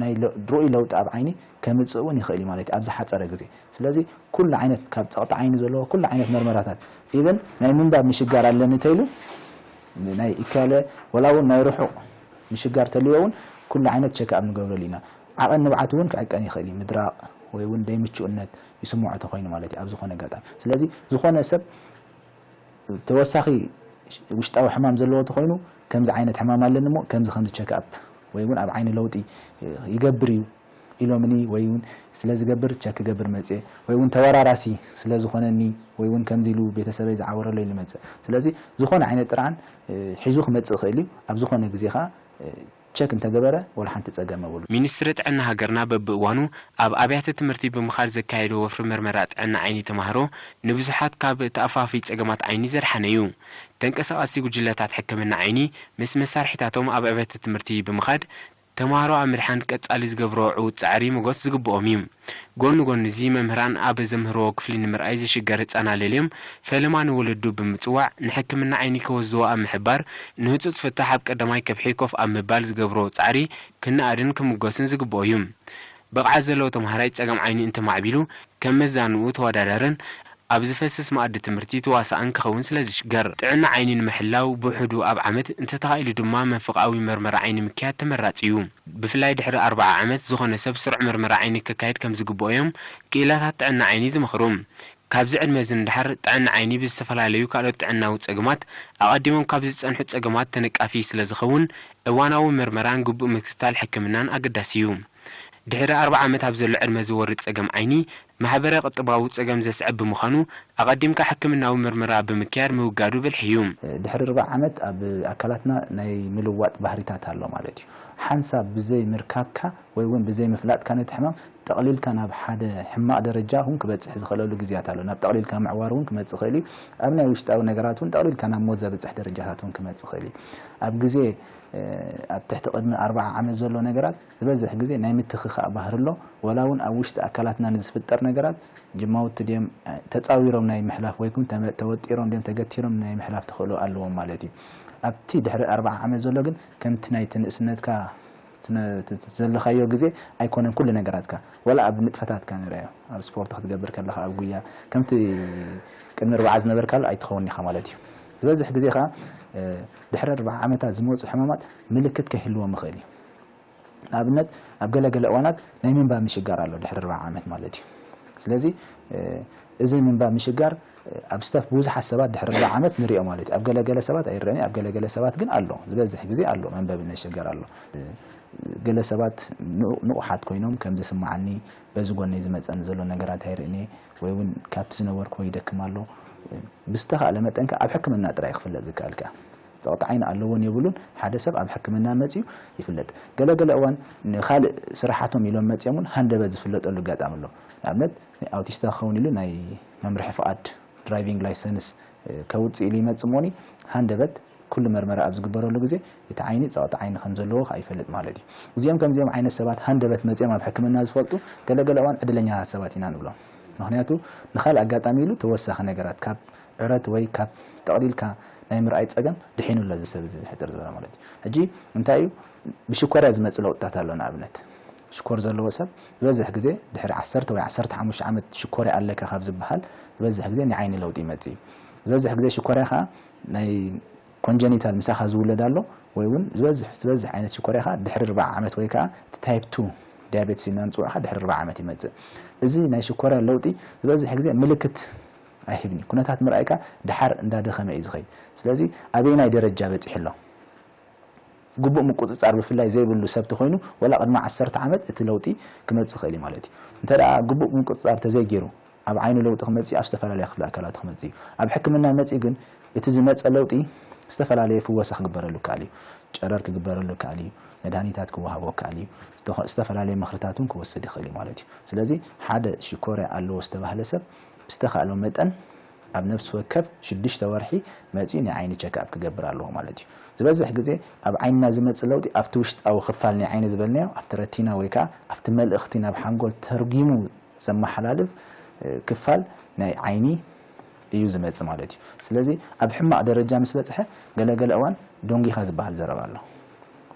ናይ ርኡይ ለውጢ ኣብ ዓይኒ ከምጽእ እውን ይኽእል እዩ ማለት እዩ ኣብ ዝሓጸረ ግዜ። ስለዚ ኩሉ ዓይነት ካብ ጸቕጢ ዓይኒ ዘለዎ ኩሉ ዓይነት መርመራታት ኢቨን ናይ ምንባብ ምሽጋር ኣለኒ ተይሉ ናይ ኢካለ ወላ እውን ናይ ርሑቕ ምሽጋር ተልዎ እውን ኩሉ ዓይነት ቸክኣብ ንገብረሉ ኢና። ዓቐን ንብዓት እውን ክዕቀን ይኽእል እዩ፣ ምድራቕ ወይ እውን ደይምቹእነት ይስምዖ ተኾይኑ ማለት እዩ ኣብ ዝኾነ ኣጋጣሚ። ስለዚ ዝኾነ ሰብ ተወሳኺ ውሽጣዊ ሕማም ዘለዎ ተኾይኑ ከምዚ ዓይነት ሕማም ኣለኒ እሞ ከምዚ ከምዚ ቸክኣፕ ወይ እውን ኣብ ዓይኒ ለውጢ ይገብር እዩ፣ ኢሎምኒ ወይ ውን ስለ ዝገብር ቸክ ክገብር መጽየ ወይ ውን ተወራራሲ ስለ ዝኾነኒ ወይ ውን ከምዚ ኢሉ ቤተሰበይ ዝዓወረለይ ኢሉ መጸ ስለዚ ዝኾነ ዓይነት ጥርዓን ሒዙ ክመጽእ ይኽእል ዩ ኣብ ዝኾነ ግዜ ከኣ ቸክ እንተገበረ ወላ ሓንቲ ጸገም የብሉን። ሚኒስትሪ ጥዕና ሃገርና በብእዋኑ ኣብ ኣብያተ ትምህርቲ ብምኻድ ዘካየዶ ወፍሪ መርመራ ጥዕና ዓይኒ ተማሃሮ ንብዙሓት ካብ ተኣፋፊ ጸገማት ዓይኒ ዘድሓነ ዩ። ተንቀሳቐስቲ ጉጅለታት ሕክምና ዓይኒ ምስ መሳርሒታቶም ኣብ ኣብያተ ትምህርቲ ብምኻድ፣ ተማሃሮ ኣብ ምድሓን ቀጻሊ ዝገብርዎ ዕዉት ጻዕሪ ሞጎስ ዝግብኦም እዩ። ጎኒ ጎኒ'ዚ መምህራን ኣብ ዘምህርዎ ክፍሊ ንምርኣይ ዝሽገር ህጻን ኣለልዮም ፈለማ ንወለዱ ብምጽዋዕ ንሕክምና ዓይኒ ከወዝዎ ኣብ ምሕባር ንህጹጽ ፍታሕ ኣብ ቀዳማይ ከብሒ ኮፍ ኣብ ምባል ዝገብርዎ ጻዕሪ ክነኣድን ክምጎስን ዝግብኦ እዩ። ብቕዓት ዘለዎ ተምሃራይ ጸገም ዓይኒ እንተማዕቢሉ ከም መዛንኡ ተወዳዳርን ኣብ ዝፈስስ መኣዲ ትምህርቲ ተዋሳእን ክኸውን ስለዝሽገር፣ ጥዕና ዓይኒ ንምሕላው ብውሕዱ ኣብ ዓመት፣ እንተተኻኢሉ ድማ መንፍቕኣዊ መርመራ ዓይኒ ምክያድ ተመራጺ እዩ። ብፍላይ ድሕሪ ኣርብዓ ዓመት፣ ዝኾነ ሰብ ስሩዕ መርመራ ዓይኒ ከካይድ ከምዝግብኦ'ዮም ክኢላታት ጥዕና ዓይኒ ዝመኽሩ። ካብዚ ዕድመ'ዚ ንደሓር ጥዕና ዓይኒ ብዝተፈላለዩ ካልኦት ጥዕናዊ ጸገማት ኣቐዲሞም ካብ ዝጸንሑ ጸገማት ተነቃፊ ስለ ዝኸውን እዋናዊ ምርመራን ግቡእ ምክትታል ሕክምናን ኣገዳሲ'ዩ። ድሕሪ ኣርብዓ ዓመት ኣብ ዘሎ ዕድመ ዝወርድ ጸገም ዓይኒ ማሕበረ-ቁጠባዊ ጸገም ዘስዕብ ብምዃኑ ኣቐዲምካ ሕክምናዊ ምርመራ ብምክያድ ምውጋዱ ብልሒ'ዩ። ድሕሪ ርብዓ ዓመት ኣብ ኣካላትና ናይ ምልዋጥ ባህሪታት ኣሎ ማለት'ዩ። ሓንሳብ ብዘይ ምርካብካ ወይ እውን ብዘይ ምፍላጥካ ነቲ ሕማም ጠቕሊልካ ናብ ሓደ ሕማቕ ደረጃ እውን ክበጽሕ ዝኽእለሉ ግዜያት ኣሎ። ናብ ጠቕሊልካ ምዕዋር እውን ክመጽእ ይኽእል እዩ። ኣብ ናይ ውሽጣዊ ነገራት እውን ጠቕሊልካ ናብ ሞት ዘብጽሕ ደረጃታት እውን ክመጽእ ይኽእል እዩ። ኣብ ግዜ ኣብ ትሕቲ ቅድሚ ኣርብዓ ዓመት ዘሎ ነገራት ዝበዝሕ ግዜ ናይ ምትክኻእ ባህሪ ኣሎ። ዋላ እውን ኣብ ውሽጢ ኣካላትና ንዝፍጠር ነገራት ጅማውቲ ድዮም ተጻዊሮም ናይ ምሕላፍ ወይ ክውን ተወጢሮም ድዮም ተገቲሮም ናይ ምሕላፍ ተኽእሎ ኣለዎም ማለት እዩ። ኣብቲ ድሕሪ ኣርብዓ ዓመት ዘሎ ግን ከምቲ ናይቲ ንእስነትካ እቲ ዘለኻዮ ግዜ ኣይኮነን ኩሉ ነገራትካ ዋላ ኣብ ንጥፈታትካ ንርኣዮ ኣብ ስፖርት ክትገብር ከለኻ ኣብ ጉያ ከምቲ ቅድሚ ርብዓ ዝነበርካሉ ኣይትኸውንን ኢኻ ማለት እዩ ዝበዝሕ ግዜ ከኣ ድሕሪ ርብዓ ዓመታት ዝመጹ ሕማማት ምልክት ከይህልዎም ይኽእል እዩ ንኣብነት ኣብ ገለ ገለ እዋናት ናይ ምንባብ ምሽጋር ኣሎ ድሕሪ ርብዓ ዓመት ማለት እዩ ስለዚ እዚ ምንባብ ምሽጋር ኣብ ስታፍ ብዙሓት ሰባት ድሕሪ ርብዒ ዓመት ንሪኦ ማለት እዩ። ኣብ ገለ ገለ ሰባት ኣይረኣን እዩ፣ ኣብ ገለ ገለ ሰባት ግን ኣሎ። ዝበዝሕ ግዜ ኣሎ፣ መንበቢ ነሸገር ኣሎ። ገለ ሰባት ንቑሓት ኮይኖም ከም ዝስምዓኒ፣ በዚ ጎነይ ዝመጸኒ ዘሎ ነገራት ኣይርእን እየ፣ ወይ እውን ካብቲ ዝነበርክዎ ይደክም ኣሎ። ብዝተኻእለ መጠን ከኣ ኣብ ሕክምና ጥራይ እዩ ክፍለጥ ዝከኣል ከኣ። ጸቕጢ ዓይኒ ኣለዎን የብሉን ሓደ ሰብ ኣብ ሕክምና መጺኡ ይፍለጥ። ገለ ገለ እዋን ንኻልእ ስራሓቶም ኢሎም መጺኦም እውን ሃንደበት ዝፍለጠሉ ኣጋጣሚ ኣሎ። ንኣብነት ናይ ኣውቲስታ ክኸውን ኢሉ ናይ መምርሒ ፍቓድ፣ ድራይቪንግ ላይሰንስ፣ ከውጽእ ኢሉ ይመጽእ እሞኒ ሃንደበት ኩሉ መርመራ ኣብ ዝግበረሉ ግዜ እቲ ዓይኒ ጸቕጢ ዓይኒ ከም ዘለዎ ከኣ ይፈልጥ ማለት እዩ። እዚኦም ከምዚኦም ዓይነት ሰባት ሃንደበት መጺኦም ኣብ ሕክምና ዝፈልጡ ገለ ገለ እዋን ዕድለኛታት ሰባት ኢና ንብሎም። ምኽንያቱ ንኻልእ ኣጋጣሚ ኢሉ ተወሳኺ ነገራት ካብ ዕረት ወይ ካብ ጠቕሊልካ ናይ ምርኣይ ጸገም ድሒኑ ኣሎ እዚ ሰብ እዚ ብሕጽር ዝበለ ማለት እዩ። ሕጂ እንታይ እዩ ብሽኮርያ ዝመጽእ ለውጥታት ኣሎ ንኣብነት ሽኮር ዘለዎ ሰብ ዝበዝሕ ግዜ ድሕሪ ዓሰርተ ወይ ዓሰርተ ሓሙሽተ ዓመት ሽኮርያ ኣለካ ካብ ዝበሃል ዝበዝሕ ግዜ ናይ ዓይኒ ለውጢ ይመጽእ እዩ። ዝበዝሕ ግዜ ሽኮርያ ከኣ ናይ ኮንጀኒታል ምሳኻ ዝውለድ ኣሎ ወይ እውን ዝበዝሕ ዝበዝሕ ዓይነት ሽኮርያ ከኣ ድሕሪ ኣርብዓ ዓመት ወይ ከኣ እቲ ታይፕ ቱ ዲያቤትስ ኢልና ንጽውዖ ከኣ ድሕሪ ኣርብዓ ዓመት ይመጽእ። እዚ ናይ ሽኮርያ ለውጢ ዝበዝሕ ግዜ ምልክት ኣይህብን እዩ። ኩነታት ምርኣይካ ደሓር እንዳደኸመ እዩ ዝኸይድ። ስለዚ ኣበየናይ ደረጃ በጺሑ ኣሎ? ግቡእ ምቁጽጻር ብፍላይ ዘይብሉ ሰብ ተኾይኑ ወላ ቅድሚ ዓሰርተ ዓመት እቲ ለውጢ ክመጽእ ይኽእል እዩ ማለት እዩ። እንተ ግቡእ ምቁጽጻር ተዘይጌሩ ኣብ ዓይኑ ለውጢ ክመጽእ እዩ ኣብ ዝተፈላለያ ክፍሊ ኣካላቱ ክመጽእ እዩ። ኣብ ሕክምና መጺኡ ግን እቲ ዝመጸ ለውጢ ዝተፈላለየ ፍወሳ ክግበረሉ ይከኣል እዩ። ጨረር ክግበረሉ ይከኣል እዩ፣ መድሃኒታት ክወሃቦ ይከኣል እዩ፣ ዝተፈላለየ ምኽርታት እውን ክወስድ ይኽእል እዩ ማለት እዩ። ስለዚ ሓደ ሽኮርያ ኣለዎ ዝተባህለ ሰብ ብዝተኻእሎ መጠን ኣብ ነፍሲ ወከፍ ሽዱሽተ ወርሒ መጺኡ ናይ ዓይኒ ቸክኣፕ ክገብር ኣለዎ ማለት እዩ። ዝበዝሕ ግዜ ኣብ ዓይንና ዝመጽእ ለውጢ ኣብቲ ውሽጣዊ ክፋል ናይ ዓይኒ ዝበልናዮ ኣብቲ ረቲና ወይ ከኣ ኣብቲ መልእኽቲ ናብ ሓንጎል ተርጒሙ ዘመሓላልፍ ክፋል ናይ ዓይኒ እዩ ዝመጽእ ማለት እዩ። ስለዚ ኣብ ሕማቕ ደረጃ ምስ በጽሐ ገለ ገለ እዋን ዶንጊኻ ዝበሃል ዘረባ ኣሎ።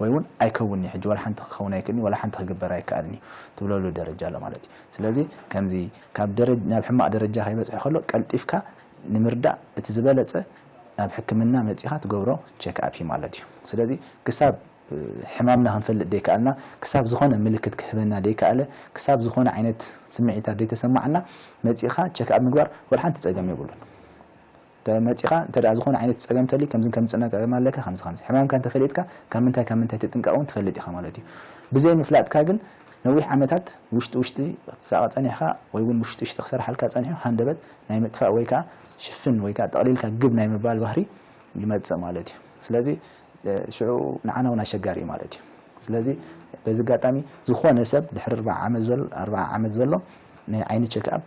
ወይ እውን ኣይከውንን'ዩ ሕጂ ዋላ ሓንቲ ክኸውን ኣይክእልን'ዩ ዋላ ሓንቲ ክግበር ኣይከኣልን'ዩ ትብለሉ ደረጃ ኣሎ ማለት እዩ። ስለዚ ከምዚ። ካብ ናብ ሕማቕ ደረጃ ከይበጽሐ ከሎ ቀልጢፍካ ንምርዳእ እቲ ዝበለጸ ናብ ሕክምና መጺኻ ትገብሮ ቸክኣፕ እዩ ማለት እዩ። ስለዚ ክሳብ ሕማምና ክንፈልጥ ደይከኣልና፣ ክሳብ ዝኾነ ምልክት ክህበና ደይከኣለ፣ ክሳብ ዝኾነ ዓይነት ስምዒታት ደይተሰማዓና መጺእኻ ቸክኣፕ ምግባር ወላ ሓንቲ ጸገም የብሉን። እንተ መጺኻ እንተ ዝኾነ ዓይነት ጸገም እንተልዩ ከምዝን ከምዝን ጸገም ኣለካ ከምዚ ከምዚ ሕማምካ እንተ ፈሊጥካ ካብ ምንታይ ካብ ምንታይ ትጥንቀቕ ውን ትፈልጥ ኢኻ ማለት እዩ። ብዘይ ምፍላጥካ ግን ነዊሕ ዓመታት ውሽጢ ውሽጢ ክትሳቐ ጸኒሕካ ወይ ውን ውሽጢ ውሽጢ ክሰርሓልካ ጸኒሑ ሃንደበት ናይ ምጥፋእ ወይ ከኣ ሽፍን ወይ ከኣ ጠቕሊልካ ግብ ናይ ምባል ባህሪ ይመጽእ ማለት እዩ። ስለዚ ሽዑ ንዓና ውን ኣሸጋሪ እዩ ማለት እዩ። ስለዚ በዚ ኣጋጣሚ ዝኾነ ሰብ ድሕሪ ኣርብዓ ዓመት ዘሎ ኣርብዓ ዓመት ዘሎ ናይ ዓይኒ ቸክኣፕ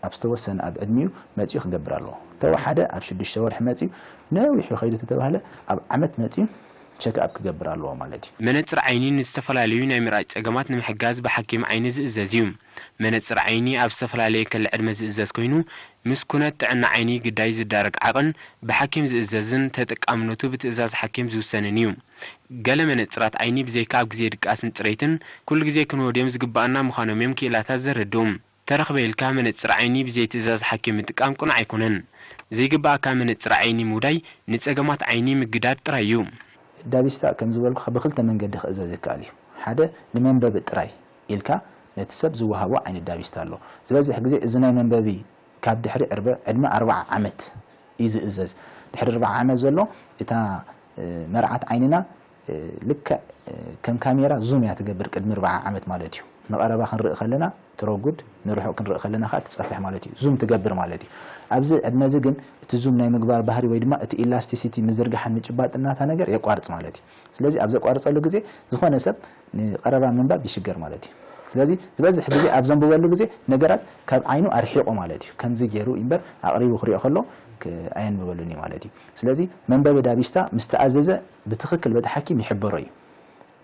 ኣብ ዝተወሰነ ኣብ ዕድሚኡ መጺኡ ክገብር ኣለዎ ተወሓደ ኣብ ሽዱሽተ ወርሒ መጺኡ ነዊሑ ከይዱ ተተባህለ ኣብ ዓመት መጺኡ ቸክ ኣፕ ክገብር ኣለዎ ማለት እዩ። መነጽር ዓይኒ ንዝተፈላለዩ ናይ ምርኣይ ጸገማት ንምሕጋዝ ብሓኪም ዓይኒ ዝእዘዝ እዩ። መነጽር ዓይኒ ኣብ ዝተፈላለየ ከለ ዕድመ ዝእዘዝ ኮይኑ ምስ ኩነት ጥዕና ዓይኒ ግዳይ ዝዳረግ ዓቕን ብሓኪም ዝእዘዝን ተጠቃምነቱ ብትእዛዝ ሓኪም ዝውሰንን እዩ። ገለ መነጽራት ዓይኒ ብዘይካ ኣብ ግዜ ድቃስን ጽሬትን ኩሉ ግዜ ክንወድዮም ዝግባኣና ምዃኖም'ዮም ክኢላታት ዘረድኡ። ተረኽበ ኢልካ መነጽር ዓይኒ ብዘይ ትእዛዝ ሓኪም ምጥቃም ቅኑዕ ኣይኮነን። ዘይግብኣካ መነጽር ዓይኒ ምውዳይ ንጸገማት ዓይኒ ምግዳድ ጥራይ እዩ። ዳቪስታ ከም ዝበልኩኻ ብኽልተ መንገዲ ክእዘዝ ይከኣል እዩ። ሓደ ንመንበቢ ጥራይ ኢልካ ነቲ ሰብ ዝወሃቦ ዓይነት ዳቪስታ ኣሎ። ዝበዝሕ ግዜ እዚ ናይ መንበቢ ካብ ድሕሪ ዕርበ ዕድመ ኣርብዓ ዓመት እዩ ዝእዘዝ። ድሕሪ ኣርብዓ ዓመት ዘሎ እታ መርዓት ዓይንና ልክዕ ከም ካሜራ ዙም እያ ትገብር ቅድሚ ኣርብዓ ዓመት ማለት እዩ ንቀረባ ክንርኢ ከለና ትረጉድ ንርሑቅ ክንርኢ ከለና ከኣ ትጸፍሕ ማለት እዩ ዙም ትገብር ማለት እዩ ኣብዚ ዕድመ እዚ ግን እቲ ዙም ናይ ምግባር ባህሪ ወይ ድማ እቲ ኢላስቲሲቲ ምዝርጋሕን ምጭባጥን ናታ ነገር የቋርጽ ማለት እዩ ስለዚ ኣብ ዘቋርጸሉ ግዜ ዝኾነ ሰብ ንቀረባ ምንባብ ይሽገር ማለት እዩ ስለዚ ዝበዝሕ ግዜ ኣብ ዘንብበሉ ግዜ ነገራት ካብ ዓይኑ ኣርሒቁ ማለት እዩ ከምዚ ጌሩ ኢምበር ኣቅሪቡ ክሪኦ ከሎ ኣየንብበሉን እዩ ማለት እዩ ስለዚ መንበቢ ዳቢስታ ምስ ተኣዘዘ ብትኽክል በቲ ሓኪም ይሕበሮ እዩ።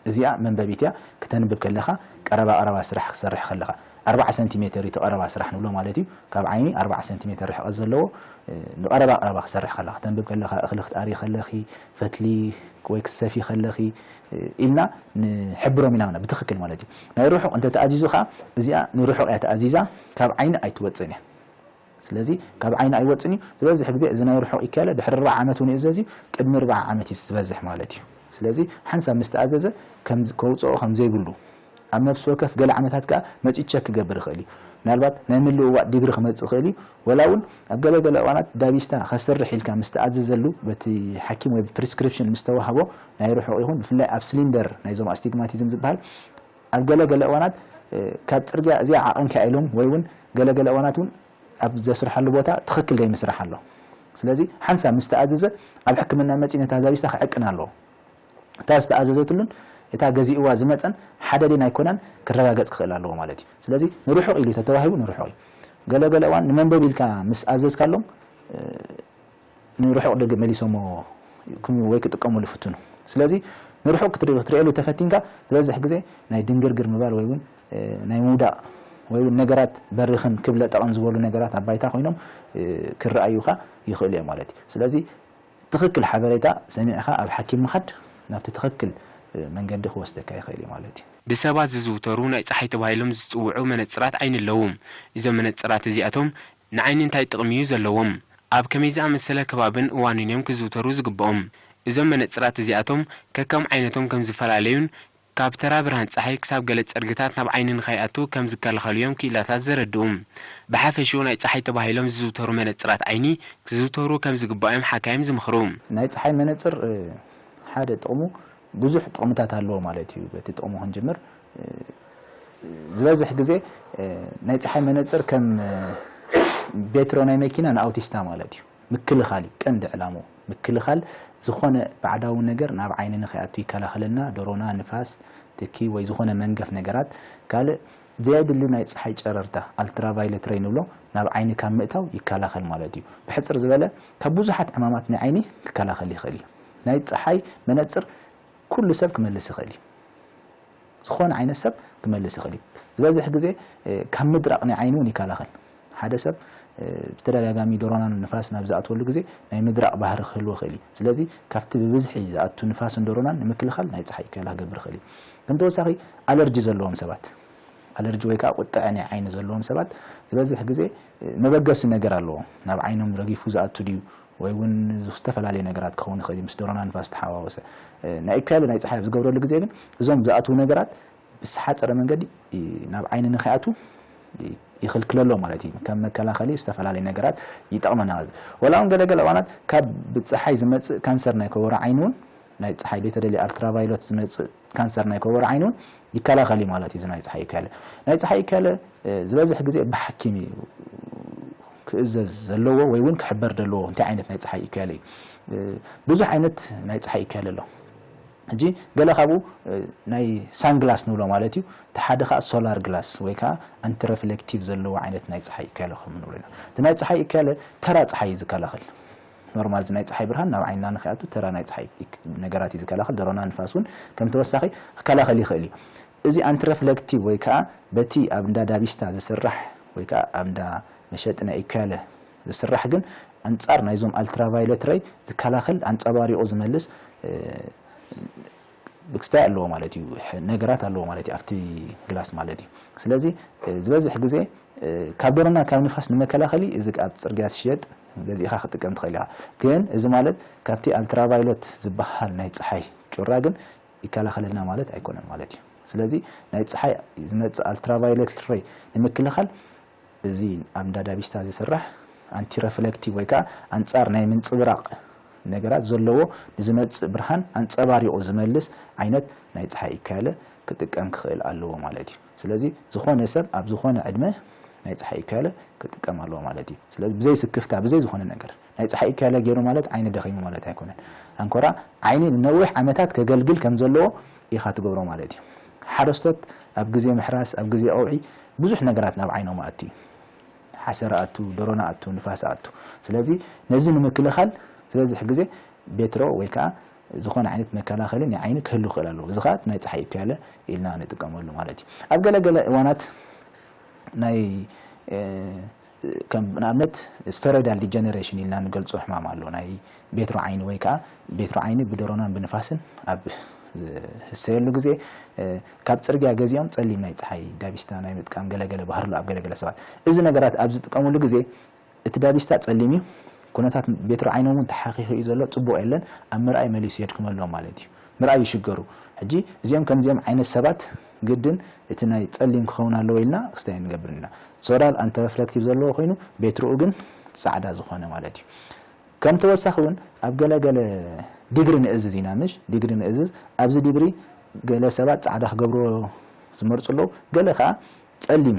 እዚኣ መንበቢት እያ ክተንብብ ከለኻ ቀረባ ቀረባ ስራሕ ክትሰርሕ ከለኻ ኣርብዓ ሰንቲ ሜተር እዩ እቲ ቀረባ ስራሕ ንብሎ ማለት እዩ ካብ ዓይኒ ኣርብዓ ሰንቲ ሜተር ርሕቐት ዘለዎ ንቀረባ ቀረባ ክትሰርሕ ከለኻ ክተንብብ ከለኻ እኽሊ ክትኣርዪ ከለኺ ፈትሊ ወይ ክትሰፊ ከለኺ ኢልና ንሕብሮም ኢና ማለት ብትኽክል ማለት እዩ ናይ ርሑቕ እንተተኣዚዙ ከኣ እዚኣ ንርሑቕ እያ ተኣዚዛ ካብ ዓይኒ ኣይትወጽእን እያ ስለዚ ካብ ዓይኒ ኣይወጽን እዩ። ዝበዝሕ ግዜ እዚ ናይ ርሑቕ ይከለ ድሕሪ ኣርባዓ ዓመት ውን ይእዘዝ እዩ። ቅድሚ ኣርባዓ ዓመት እዩ ዝበዝሕ ማለት እዩ። ስለዚ ሓንሳብ ምስ ተኣዘዘ ከም ከውጽኦ ከም ዘይብሉ ኣብ ነፍሲ ወከፍ ገለ ዓመታት ከኣ መጺኡ ቸክ ክገብር ይኽእል እዩ። ምናልባት ናይ ምልውዋጥ ዲግሪ ክመጽእ ይኽእል እዩ። ወላ ውን ኣብ ገለ ገለ እዋናት ዳቢስታ ከስርሕ ኢልካ ምስ ተኣዘዘሉ በቲ ሓኪም ወይ ብፕሪስክሪፕሽን ምስ ተዋህቦ ናይ ርሑቕ ይኹን ብፍላይ ኣብ ስሊንደር ናይዞም ኣስቲግማቲዝም ዝበሃል ኣብ ገለ ገለ እዋናት ካብ ጽርግያ እዚኣ ዓቐንኪያ ኢሎም ወይ ውን ገለ ገለ እዋናት ውን ኣብ ዘስርሓሉ ቦታ ትኽክል ዘይምስራሕ ኣሎ። ስለዚ ሓንሳብ ምስ ተኣዘዘ ኣብ ሕክምና መጺኡ ነታ ዛቢስታ ክዕቅና ኣለዎ። እታ ዝተኣዘዘትሉን እታ ገዚእዋ ዝመጸን ሓደ ድየን ኣይኮናን ክረጋገጽ ክኽእል ኣለዎ ማለት እዩ። ስለዚ ንርሑቕ ኢሉ ተተዋሂቡ ንርሑቕ እዩ። ገለ ገለ እዋን ንመንበቢ ኢልካ ምስ ኣዘዝካሎም ንርሑቕ ደገ መሊሶሞ ክም ወይ ክጥቀሙሉ ይፍትኑ። ስለዚ ንርሑቕ ክትርእየሉ ተፈቲንካ ዝበዝሕ ግዜ ናይ ድንግርግር ምባል ወይ ውን ናይ ምውዳቕ ወይ ውን ነገራት በሪኽን ክብ ለጠቕን ዝበሉ ነገራት ኣብ ባይታ ኮይኖም ክረኣዩኻ ይኽእሉ እዮም ማለት እዩ። ስለዚ ትኽክል ሓበሬታ ሰሚዕኻ ኣብ ሓኪም ምኻድ ናብቲ ትኽክል መንገዲ ክወስደካ ይኽእል እዩ ማለት እዩ። ብሰባት ዝዝውተሩ ናይ ጸሓይ ተባሂሎም ዝጽውዑ መነጽራት ዓይኒ ኣለዉ። እዞም መነጽራት እዚኣቶም ንዓይኒ እንታይ ጥቕሚ እዩ ዘለዎም? ኣብ ከመይ ዝኣመሰለ ከባብን እዋንን እዮም ክዝውተሩ ዝግብኦም? እዞም መነጽራት እዚኣቶም ከከም ዓይነቶም ከም ዝፈላለዩን ካብ ተራ ብርሃን ጸሓይ ክሳብ ገለ ጸርግታት ናብ ዓይኒ ንኸይኣቱ ከም ዝከላኸሉ እዮም ክኢላታት ዘረድኡ። ብሓፈሽኡ ናይ ጸሓይ ተባሂሎም ዝዝውተሩ መነጽራት ዓይኒ ክዝውተሩ ከም ዝግባእ እዮም ሓካይም ዝምኽሩ። ናይ ጸሓይ መነጽር ሓደ ጥቕሙ ብዙሕ ጥቕምታት ኣለዎ ማለት እዩ። በቲ ጥቕሙ ክንጅምር፣ ዝበዝሕ ግዜ ናይ ጸሓይ መነጽር ከም ቤትሮ ናይ መኪና ንኣውቲስታ ማለት እዩ። ምክልኻል እዩ ቀንዲ ዕላምኡ። ምክልኻል ዝኾነ ባዕዳዊ ነገር ናብ ዓይኒ ንኸይኣቱ ይከላኸለልና፣ ደሮና፣ ንፋስ፣ ትኪ ወይ ዝኾነ መንገፍ ነገራት። ካልእ ዘየድሊ ናይ ጸሓይ ጨረርታ፣ ኣልትራቫይለት ረይ ንብሎ፣ ናብ ዓይኒ ካብ ምእታው ይከላኸል ማለት እዩ። ብሕጽር ዝበለ ካብ ብዙሓት ዕማማት ናይ ዓይኒ ክከላኸል ይኽእል እዩ። ናይ ጸሓይ መነጽር ኩሉ ሰብ ክመልስ ይኽእል እዩ። ዝኾነ ዓይነት ሰብ ክመልስ ይኽእል እዩ። ዝበዝሕ ግዜ ካብ ምድራቕ ናይ ዓይኒ እውን ይከላኸል። ሓደ ሰብ ብተደጋጋሚ ዶሮናን ንፋስን ኣብ ዝኣትወሉ ግዜ ናይ ምድራቕ ባህሪ ክህልዎ ይኽእል እዩ። ስለዚ ካብቲ ብብዝሒ ዝኣቱ ንፋስን ዶሮናን ንምክልኻል ናይ ጸሓይ ከላ ክገብር ይኽእል እዩ። ከም ተወሳኺ ኣለርጂ ዘለዎም ሰባት ኣለርጂ ወይ ከኣ ቁጥዐ ናይ ዓይኒ ዘለዎም ሰባት ዝበዝሕ ግዜ መበገሲ ነገር ኣለዎም። ናብ ዓይኖም ረጊፉ ዝኣቱ ድዩ ወይ እውን ዝተፈላለየ ነገራት ክኸውን ይኽእል እዩ፣ ምስ ደሮና ንፋስ ዝተሓዋወሰ። ናይ ኢኩያሎ ናይ ጸሓይ ኣብ ዝገብረሉ ግዜ ግን እዞም ዝኣትዉ ነገራት ብዝተሓጸረ መንገዲ ናብ ዓይኒ ንከይኣትዉ ይኽልክለሎም ማለት እዩ። ከም መከላኸሊ ዝተፈላለየ ነገራት ይጠቕመና። ዋላ'ውን ገለ ገለ እዋናት ካብ ብጸሓይ ዝመጽእ ካንሰር ናይ ኮቦሮ ዓይኒ እውን ናይ ጸሓይ ዘይተደልየ ኣልትራቫይሎት ዝመጽእ ካንሰር ናይ ኮቦሮ ዓይኒ ውን ይከላኸል እዩ ማለት እዩ እዚ ናይ ጸሓይ እከለ። ናይ ጸሓይ እከለ ዝበዝሕ ግዜ ብሓኪም እዩ ክእዘዝ ዘለዎ ወይ ውን ክሕበር ደለዎ እንታይ ዓይነት ናይ ጸሓይ እከለ እዩ። ብዙሕ ዓይነት ናይ ጸሓይ እከለ ኣሎ። ሕጂ ገለ ካብኡ ናይ ሳን ግላስ ንብሎ ማለት እዩ። እቲ ሓደ ከኣ ሶላር ግላስ ወይ ከኣ ኣንቲረፍሌክቲቭ ዘለዎ ዓይነት ናይ ጸሓይ እከለ ከም ንብሎ ኢና። እቲ ናይ ጸሓይ እከለ ተራ ጸሓይ እዩ ዝከላኸል። ኖርማል እዚ ናይ ጸሓይ ብርሃን ናብ ዓይንና ንከይኣቱ ተራ ናይ ጸሓይ ነገራት እዩ ዝከላኸል። ደሮና ንፋስ እውን ከም ተወሳኺ ክከላኸል ይኽእል እዩ። እዚ ኣንቲረፍለክቲቭ ወይ ከኣ በቲ ኣብ እንዳ ዳቢስታ ዝስራሕ ወይ ከኣ ኣብ እንዳ መሸጢ ናይ ኢኩያለ ዝስራሕ ግን ኣንጻር ናይዞም ኣልትራቫዮለት ረይ ዝከላኸል ኣንጸባሪቑ ዝመልስ ክስታይ ኣለዎ ማለት እዩ ነገራት ኣለዎ ማለት እዩ ኣብቲ ግላስ ማለት እዩ ስለዚ ዝበዝሕ ግዜ ካብ ደሮና ካብ ንፋስ ንመከላኸሊ እዚ ኣብ ጽርግያ ዝሽየጥ ገዚእኻ ክትጥቀም ትኽእል ኢኻ ግን እዚ ማለት ካብቲ ኣልትራቫይሎት ዝበሃል ናይ ጸሓይ ጩራ ግን ይከላኸለልና ማለት ኣይኮነን ማለት እዩ ስለዚ ናይ ጸሓይ ዝመጽእ ኣልትራቫይሎት ረይ ንምክልኻል እዚ ኣብ ንዳዳቢስታ ዝስራሕ ኣንቲረፍለክቲቭ ወይ ከኣ ኣንጻር ናይ ምንጽብራቕ ነገራት ዘለዎ ንዝመጽእ ብርሃን ኣንጸባሪቑ ዝመልስ ዓይነት ናይ ጸሓይ እካያለ ክጥቀም ክኽእል ኣለዎ ማለት እዩ። ስለዚ ዝኾነ ሰብ ኣብ ዝኾነ ዕድመ ናይ ጸሓይ እካያለ ክጥቀም ኣለዎ ማለት እዩ። ስለዚ ብዘይ ስክፍታ ብዘይ ዝኾነ ነገር። ናይ ጸሓይ እከለ ጌሩ ማለት ዓይኒ ደኺሙ ማለት ኣይኮነን። ኣንኮራ ዓይኒ ንነዊሕ ዓመታት ከገልግል ከም ዘለዎ ኢኻ ትገብሮ ማለት እዩ። ሓረስቶት ኣብ ግዜ ምሕራስ፣ ኣብ ግዜ ቀውዒ ብዙሕ ነገራት ናብ ዓይኖም ኣእቱ እዩ። ሓሰር ኣእቱ፣ ደሮና ኣእቱ፣ ንፋስ ኣእቱ። ስለዚ ነዚ ንምክልኻል ዝበዝሕ ግዜ ቤትሮ ወይ ከኣ ዝኾነ ዓይነት መከላኸሊ ናይ ዓይኒ ክህሉ ይኽእል ኣለዎ። እዚ ከኣ ናይ ጸሓይ እከለ ኢልና ንጥቀመሉ ማለት እዩ። ኣብ ገለ ገለ እዋናት ናይ ከም ንኣብነት ስፈሮይዳል ዲጀነሬሽን ኢልና ንገልጾ ሕማም ኣሎ፣ ናይ ቤትሮ ዓይኒ ወይ ከኣ ቤትሮ ዓይኒ ብደሮናን ብንፋስን ኣብ ዝህሰየሉ ግዜ ካብ ጽርግያ ገዚኦም ጸሊም ናይ ጸሓይ ዳቢስታ ናይ ምጥቃም ገለ ገለ ባህሪ ኣሎ ኣብ ገለ ገለ ሰባት። እዚ ነገራት ኣብ ዝጥቀምሉ ግዜ እቲ ዳቢስታ ጸሊም እዩ፣ ኩነታት ቤትሮ ዓይኖም እውን ተሓኺኹ እዩ ዘሎ፣ ጽቡቕ የለን፣ ኣብ ምርኣይ መሊሱ የድክመሎም ማለት እዩ፣ ምርኣይ ይሽገሩ። ሕጂ እዚኦም ከምዚኦም ዓይነት ሰባት። ግድን እቲ ናይ ጸሊም ክኸውን ኣለዎ ኢልና ክስታይ ኣይንገብርን ኢና። ሶላር ኣንቲ ረፍለክቲቭ ዘለዎ ኮይኑ ቤትርኡ ግን ጻዕዳ ዝኾነ ማለት እዩ። ከም ተወሳኺ እውን ኣብ ገለ ገለ ዲግሪ ንእዝዝ ኢና ምሽ ዲግሪ ንእዝዝ ኣብዚ ዲግሪ ገለ ሰባት ጻዕዳ ክገብርዎ ዝመርጹ ኣለዉ ገለ ከኣ ጸሊም